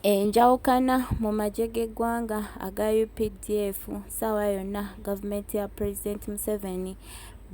Enjawukana mu magye g'eggwanga aga updf ssaawa yonna gavumenti ya Pulezidenti Museveni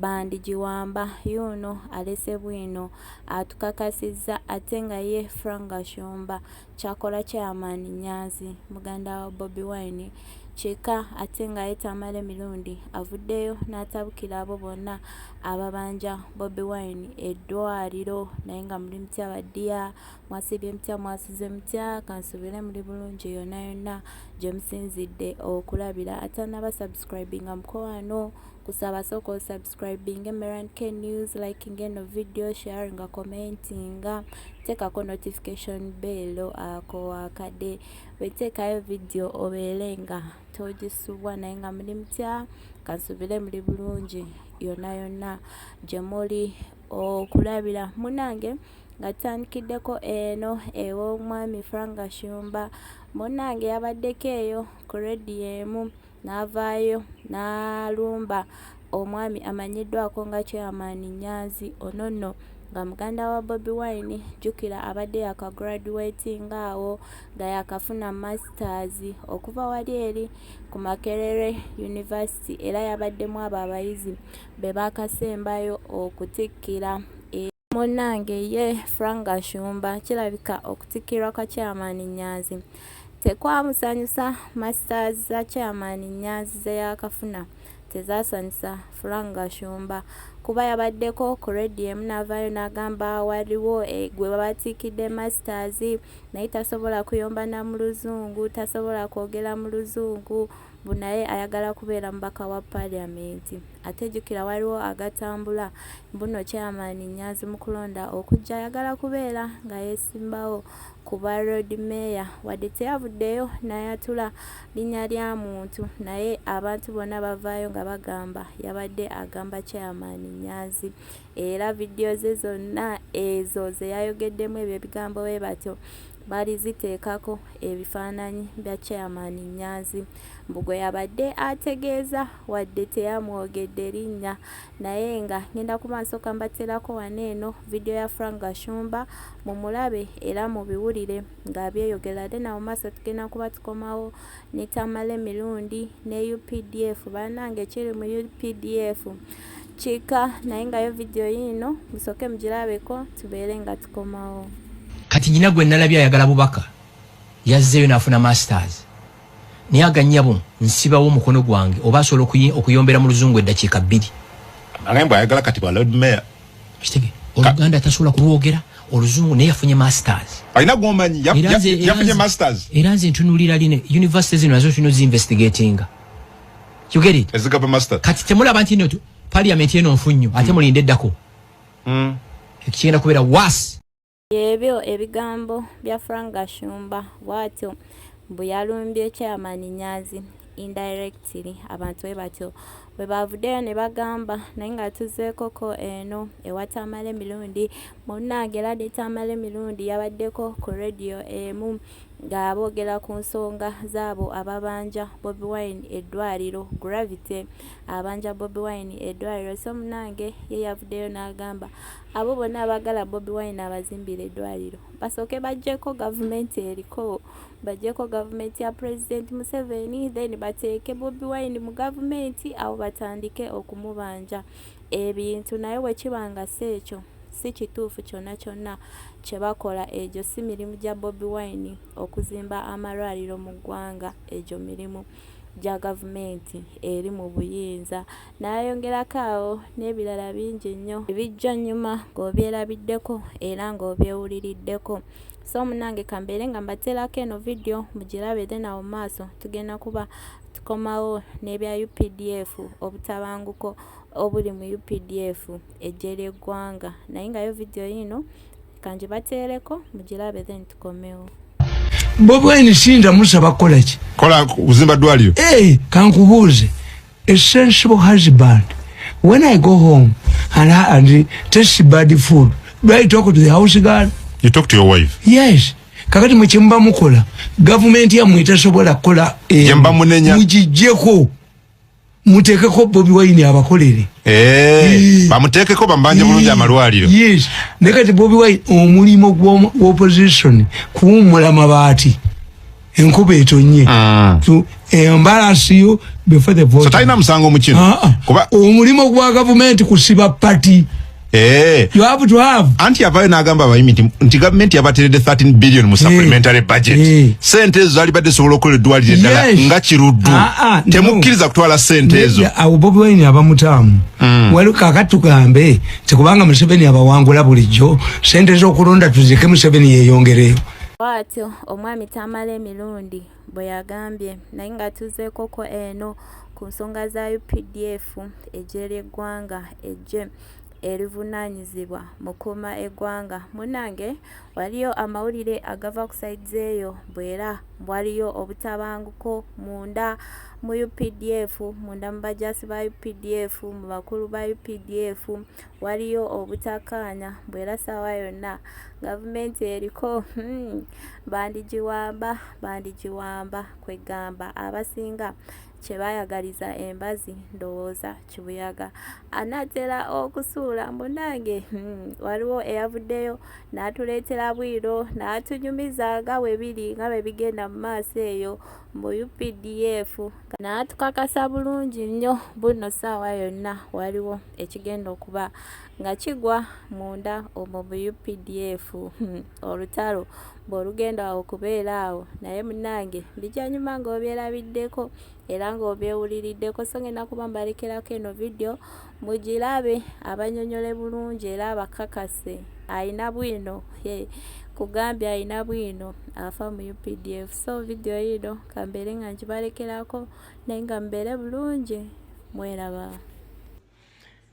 bandigiwamba, yuuno alese bwino atukakasizza ate nga ye Frank Gashumba kyakola Chairman Nyanzi muganda wa Bobi Wine kyeka ate nga ye Tamale Mirundi avuddeyo n'atabukira abo bonna ababanja Bobi Wine eddwaliro naye nga muli mutya baddiya Mwasiibye mutya mwasuze mutya kansubire muli bulungi yonna yonna gye musinzidde okulabira atanaba subscribinga mukowaano kusaba sooka osubscribing emeran k news liking eno video sharinga commentinga teekako notification bell ako wakade weteekayo video obeere nga togisubwa naye nga muli mutya kansubire muli bulungi yonna yonna gye muli okulabira munange nga tutandikiddeko eno ew'omwami frank gashumba munange yabaddeko eyo ku rediyo emu n'avaayo n'alumba omwami amanyiddwako nga chairman nyanzi ono nno nga muganda wa bobi wine jjukira abadde yakagraduatinga awo nga yakafuna masters okuva wali eri ku makerere university era yabaddemu abo abayizi be baakasembayo okutikkira e Munnange ye Frank Gashumba kirabika okutikkirwa kwa Chairman Nyanzi tekwamusanyusa Masters za Chairman Nyanzi ze yaakafuna tezaasanyusa Frank Gashumba kuba yabaddeko ku radio emu n'avaayo n'agamba waliwo eh, gwe babatiikidde masters naye tasobola kuyomba na mu luzungu tasobola kwogera mu luzungu mbu naye ayagala kubeera mubaka wa parliament ate jukira waliwo agatambula mbuno chairman nyanzi mukulonda okujja ayagala kubeera nga yesimbawo kuba road mayor wadde teyavuddeyo nayatula linya lya muntu naye abantu bonna bavaayo nga bagamba yabadde agamba chairman nyanzi era vidiyo ze zonna ezo ze yayogeddemu ebyo ebigambo bwe batyo baali ziteekako ebifaananyi bya chairman Nyanzi mbu gwe yabadde ategeeza wadde teyamwogedde linnya naye nga ngenda ku maaso kambaterako wano eno vidiyo ya Frank Gashumba mu mulabe era mu biwulire nga byeyogera ate na mu maaso tugenda kuba tukomawo ne Tamale Mirundi ne UPDF bannange kiri mu UPDF kika naye nga yo video yiino musooke mugirabeko tubeere nga tukomawo kati nyina gwe nalabye ayagala bubaka yazzeeyo nafuna masters naye aganyabo nsibawo omukono gwange oba asobola okuyombera mu luzungu eddakiika bbiri agambwa ayagala kati bwa lord mayor kitege oluganda tasobola kulwogera oluzungu naye yafunye masters alina gwomanyi yafunye masters era nze ntunulira line university zino nazo tulina zi investigatinga you get it ezigaba master kati temulaba nti no parliament eno nfunyo ate mm. mulinde dako mm. ekigenda kubera was ebyo ebigambo bya frank gashumba bwatyo mbu yalumbye chairman nyazi indirectly abantu bwe batyo bwe bavuddeyo ne bagamba naye nga tuzeekoko eno ewa tamale mirundi munnange era ne tamale mirundi yabaddeko ku rediyo emu eh, nga boogera ku nsonga zaabo ababanja Bobi Wine eddwaliro Gravity abanja Bobi Wine eddwaliro so munange ye yavuddeyo n'agamba abo bonna abagala Bobi Wine abazimbira eddwaliro basooke bajjeko gavumenti eriko bajjeko gavumenti ya President Museveni then bateeke Bobi Wine mu gavumenti awo batandike okumubanja ebintu naye bwe kiba nga si ekyo si kituufu kyonna kyonna kye bakola egyo si mirimu gya Bobi Wine okuzimba amalwaliro mu ggwanga egyo mirimu gya gavumenti eri mu buyinza n'ayongerako awo n'ebirala bingi nnyo ebijja nnyuma ng'obyerabiddeko era ng'obyewuliriddeko so munange kambeere nga mbateerako eno vidiyo mugirabe then awo maaso tugenda kuba tukomawo n'ebya updf obutabanguko obuli mu updf eggye ly'eggwanga naye nga yo vidiyo yiino kangibateereko mugirabe then tukomewo bobwaini sinza musaba kukolaki kola kuzimba ddwaliro hey, eh, kankubuuze a sensible husband when i go home and, and taste bad food do i talk to the house girl you talk to your wife yes kakati mwekyemba mukola gavumenti yamwe etasobola kukola eh, mujijjeko mutekeko bobi wine abakolere eh, bamutekeko bambanje bulungi amalwaliro yes naye kati bobi wine omulimo gw'opposition kuwummula mabaati enkuba etonye ah. embalasi yo before the vote so talina musango mukino ah, ah. kuba omulimo gwa gavumenti kusiba pati Eh. You have to have. Anti yavayo n'agamba abayimi nti, nti gavumenti yabateredde 13 billion mu supplementary eh. budget. Eh. Sente ezo zalibadde zisobola okukola eddwaliro eddala yes. nga kiruddu. Ah, ah, Temukkiriza kutwala sente ezo. Awo Bobi Wine abamutaamu. Mm. Waliwo kaakati tugambe nti kubanga Museveni abawangula bulijjo sente z'okulonda tuzireke Museveni yeeyongereyo. Bwatyo omwami Tamale Mirundi bwe yagambye naye nga tuzeekoko eno ku nsonga za updf eggye ly'eggwanga eggye erivunaanyizibwa mu kuuma eggwanga munnange waliyo amawulire agava ku saidi eyo bwera waliyo obutabanguko munda mu updf munda mu bajaasi ba updf mu bakulu ba updf waliyo obutakkaanya mbu era ssaawa yonna gavumenti eriko hmm, bandigiwamba bandigiwamba kweggamba abasinga kye baayagaliza embazi ndowooza kibuyaga anaatera okusuula munange hmm, waliwo eyavuddeyo n'atuleetera bwiro n'atunyumiza nga bwe biri nga bwe bigenda mu maaso eyo mbu updf naatukakasa bulungi nnyo bunno saawa yonna waliwo ekigenda okuba nga kigwa munda omwo mu updf hmm, olutalo bwolugenda awo okubeera awo naye munange bijanyuma ngaobyerabiddeko era ngaobyewuliriddeko so ngenda kuba mbalekerako eno vidiyo Mugilabe abanyonyole bulungi era abakakase ayina bwino he kugambye ayina bwino afa mu updf so video yiino kambeere nga njibalekerako naye nga mubeere bulungi mweraba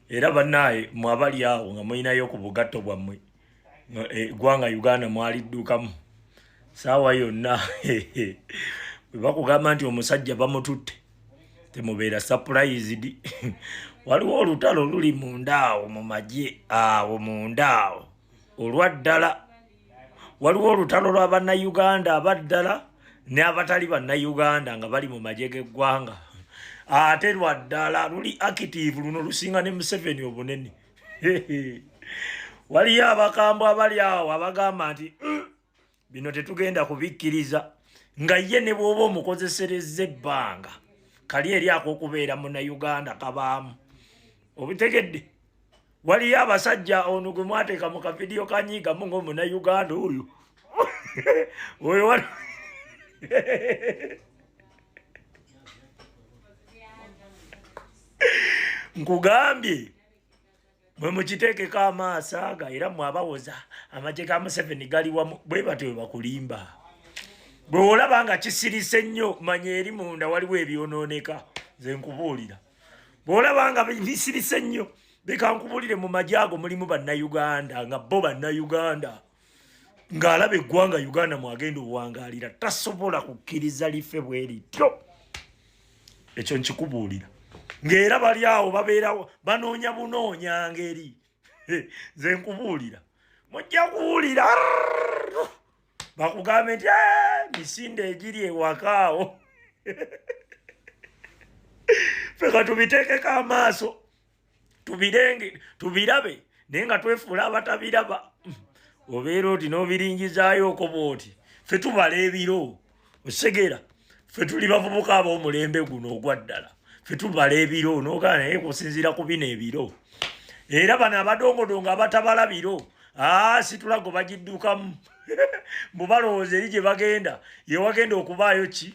era banaye mwabali awo nga mulinayo ku bugatto bwammwe egwanga eh, uganda mwaliddukamu saawa yonna webakugamba nti omusajja bamututte temubeera surprised waliwo olutalo luli mundaawo mu magye awo mundaawo olwa ddala waliwo olutalo lwa bannayuganda abaddala ne abatali bannayuganda nga bali mu magye g'eggwanga ate lwa ddala luli active luno lusinga ne museveni obunene waliyo abakambwe abali awo abagamba nti mm, bino tetugenda kubikkiriza nga ye ne bwoba omukozesereza ebbanga kali eri akokubeera munauganda kabaamu obitegedde waliyo abasajja ono gwe mwateeka mu kavidiyo kanyiigamu ngaomunauganda oyo oyo wa nkugambye mwe mukiteekeko amaaso aga era mwe abawoza amagye ga museveni gali wamu bwe batyo bwe bakulimba bwe olaba nga kisirise nnyo manya eri munda waliwo ebyonooneka nze nkubuulira bwe olaba nga bisirise nnyo leka nkubuulire mu magye ago mulimu bannayuganda nga bo bannayuganda ng'alaba eggwanga uganda mwagenda obuwangaalira tasobola kukkiriza life bwe lityo ekyo nkikubuulira ng'era bali awo babeerawo banoonya bunoonya ngeri nze nkubuulira mujja kuwulira bakugambe nti misinde egiri ewakaawo fe katubiteekeko amaaso tubirenge tubirabe naye nga twefuula abatabiraba obeera oti n'obiringizaayoko bwoti fe tubala ebiro osegera fe tuli bavubuka ab'omulembe guno ogwa ddala fe tubala ebiro nogaa naye kusinziira ku bino ebiro era bano abadongodongo abatabala biro aa situlago bagiddukamu mbu balowooza eri gye bagenda yewagenda okubaayo ki